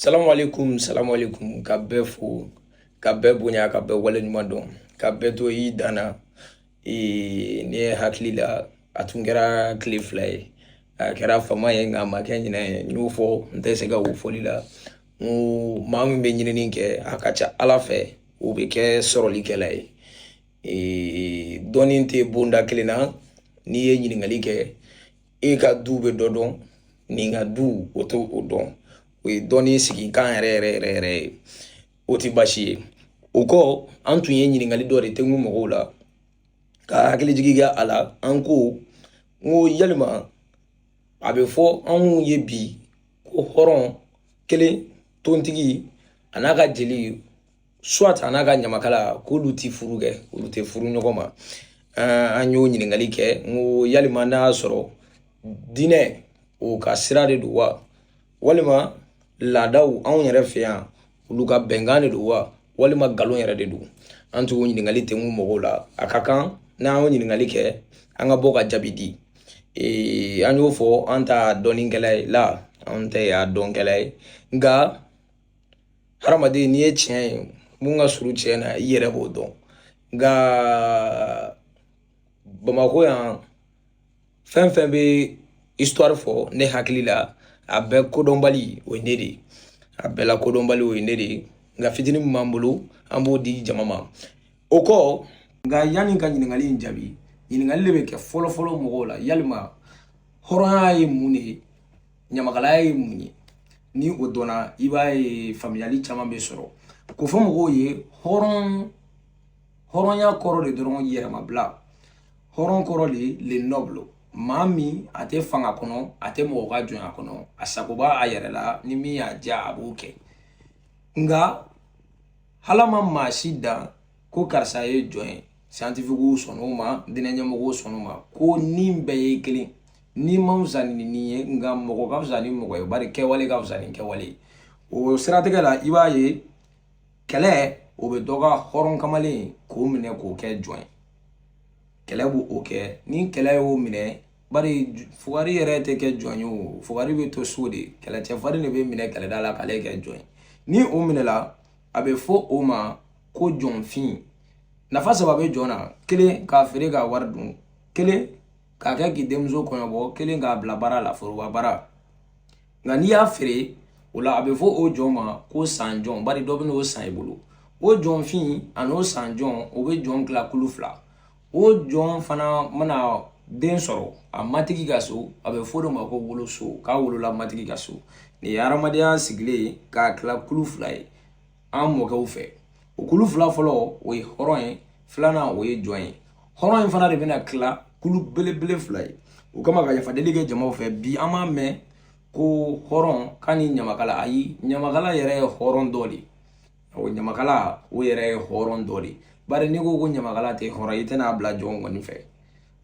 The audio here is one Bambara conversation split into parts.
salamu aleykum salamu aleykum ka bɛɛ fo ka bɛɛ bonya ka bɛɛ waleɲuman dɔn ka bɛɛ to i danna ee, ne hakili la a tun kɛra tile fila ye a kɛra fama ye nka a ma kɛ ɲinɛ ye n y'o fɔ n tɛ sɛgɛn o fɔli la n ko maa min bɛ ɲinini kɛ a ka ca ala fɛ o bɛ kɛ sɔrɔlikɛla ye ee, dɔnni tɛ bonda kelen na n'i ye ɲininkali kɛ e ka du bɛ dɔ dɔn nin ka du o t'o o dɔn o ye dɔnni sigikan yɛrɛ yɛrɛ yɛrɛ yɛrɛ ye o tɛ baasi ye o kɔ an tun ye ɲininkali dɔ de tɛnku mɔgɔw la ka hakili jigi kɛ a la an ko n ko yalima a bɛ fɔ anw ye bi ko hɔrɔn kelen tontigi a n'a ka jeli soit a n'a ka ɲamakala k'olu ti furu kɛ olu tɛ furu ɲɔgɔn ma an y'o ɲininkali kɛ n ko yalima n'a y'a sɔrɔ diinɛ o ka sira de don wa walima laadaw anw yɛrɛ fɛ yan olu ka bɛnkan de don wa walima nkalon yɛrɛ de don an t'o ɲininkali tɛnku mɔgɔw la a ka kan n'an y'o ɲininkali kɛ an ka bɔ ka jaabi di an y'o fɔ an t'a dɔnnikɛla ye la an tɛ a dɔnkɛla ye nka hadamaden n'i ye tiɲɛ ye mun ka surun tiɲɛ na i yɛrɛ b'o dɔn nka bamakɔ yan fɛn fɛn bɛ histoire fɔ ne hakili la a bɛɛ kodɔnbali o ye ne de ye a bɛɛ la kodɔnbali o ye ne de ye nka fitinin min b'an bolo an b'o di jama ma o kɔ nka yanni ka ɲininkali in jaabi ɲininkali de bɛ kɛ fɔlɔfɔlɔ mɔgɔw la yalima hɔrɔnya ye mun de ye ɲamakalaya ye mun ye ni o dɔnna i b'a ye faamuyali caman bɛ sɔrɔ k'o fɔ mɔgɔw ye hɔrɔnya kɔrɔ de dɔrɔn yɛrɛmabila hɔrɔn kɔrɔ de le noble maa min a tɛ fanga kɔnɔ a tɛ mɔgɔ ka jɔnya kɔnɔ a sago b'a a yɛrɛ la ni min y'a diya a b'o kɛ nka ala ma maa si dan ko karisa ye jɔn ye scientifique sɔnn'o ma diinɛɲɛmɔgɔw sɔnn'o ma ko ni bɛɛ ye kelen ni man fisa ni nin ye nka mɔgɔ ka fisa ni mɔgɔ ye bari kɛwale ka fisa ni kɛwale ye o siratigɛ la i b'a ye kɛlɛ o bɛ dɔ ka hɔrɔn kamalen k'o minɛ k'o kɛ jɔn ye kɛlɛ b'o kɛ ni kɛlɛ y'o minɛ bari fugari yɛrɛ tɛ kɛ jɔn ye o fugari bɛ to so de kɛlɛcɛfarin de bɛ minɛ kɛlɛda la k'ale kɛ jɔn ye ni o minɛla a bɛ fɔ o ma ko jɔnfin nafa saba bɛ jɔn na kelen k'a feere k'a wari dun kelen k'a kɛ k'i denmuso kɔɲɔbɔ kelen k'a bila baara la foroba baara nka n'i y'a feere o la a bɛ fɔ o jɔn ma ko san jɔn bari dɔ bɛn'o san i bolo o jɔnfin an'o san jɔn o bɛ jɔn tila kulu fila o jɔn fana mana den sɔrɔ a matigi ka so a bɛ fɔ o de ma ko woloso k'a wolola matigi ka so nin ye hadamadenya sigilen k'a tila kulu fila ye an mɔkɛw fɛ o kulu fila fɔlɔ o ye hɔrɔn ye filanan o ye jɔn ye hɔrɔn in fana de bɛna kila kulu belebele fila ye o kama ka yafadeli kɛ jamaw fɛ bi an b'a mɛn ko hɔrɔn k'ani ɲamakala ayi ɲamakala yɛrɛ ye hɔrɔn dɔ de ye o ɲamakala o yɛrɛ ye hɔrɔn dɔ de ye bari n'i ko ko ɲamakala tɛ hɔrɔn i tɛna a bila jɔn kɔni fɛ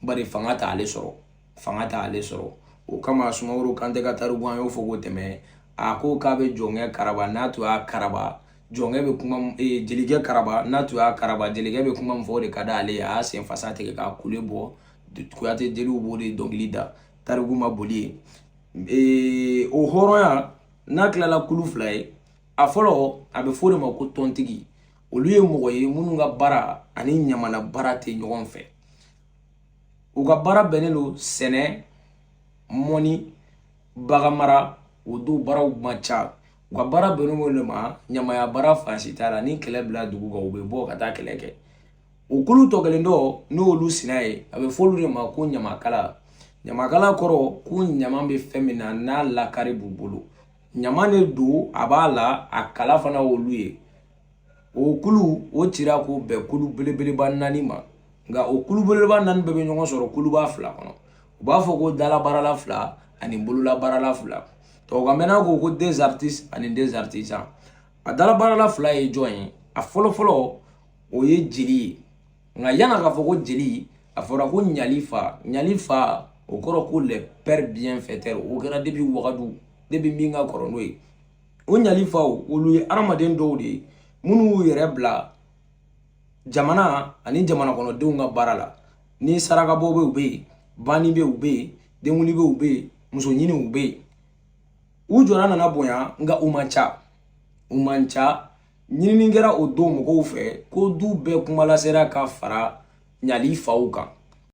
bari fanga t' ale sɔrɔ fanga t' ale sɔrɔ o kama sumaworo kante ka tariku an y'o fɔ ka tɛmɛ a ko k'a bɛ jɔnkɛ karaba n'a tun y'a karaba jɔnkɛ bɛ kuma e, jelikɛ karaba n'a tun y'a karaba jelikɛ bɛ kuma min fɔ o de ka di ale ye a y'a sen fasa tigɛ k'a kule bɔ kuyate jeliw b'o de dɔnkili da tariku ma boli ye e, o hɔrɔnya n'a tilala kulu fila ye a fɔlɔ a bɛ fɔ o de ma ko tɔntigi olu ye mɔgɔ ye minnu ka baara ani ɲamana baara tɛ ɲɔgɔn fɛ u ka baara bɛnnen don sɛnɛ mɔnni baganmara o don baaraw man ca u ka baara bɛnnen don o de ma ɲamaya baara fan si t'a la ni kɛlɛ binna dugu kan u bɛ bɔ ka taa kɛlɛ kɛ o kulu tɔ kelen dɔ n'o y'olu sina ye a bɛ fɔ olu de ma ko ɲamakala ɲamakala kɔrɔ ko ɲama bɛ fɛn min na n'a lakari b'u bolo ɲama de don a b'a la a kala fana olu ye o kulu o cira k'o bɛn kulu belebeleba naani ma nka o kulu belebeleba naani bɛɛ bɛ ɲɔgɔn sɔrɔ kuluba fila kɔnɔ u b'a fɔ ko dalabaarala fila ani bololabaarala fila tubabukan na ko ko des artistes ani des artisans a dalabaarala fila ye jɔn ye a fɔlɔfɔlɔ o ye jeli ye nka yani k'a fɔ ko jeli a fɔra ko ɲali fa ɲali fa o kɔrɔ ko les pères bienfaiteurs o kɛra depuis wagadu depuis min ka kɔrɔ n'o ye o ɲali faw olu ye adamaden dɔw de ye minnu y'u yɛrɛ bila jamana ani jamana kɔnɔdenw ka baara la ni sarakabɔ bɛ u bɛ yen banni bɛ u bɛ yen denkundi bɛ u bɛ yen muso ɲini u bɛ yen u jɔda nana bonya nka u man ca u man ca ɲinini kɛra o don mɔgɔw fɛ ko du bɛɛ kumalasela ka fara ɲali faw kan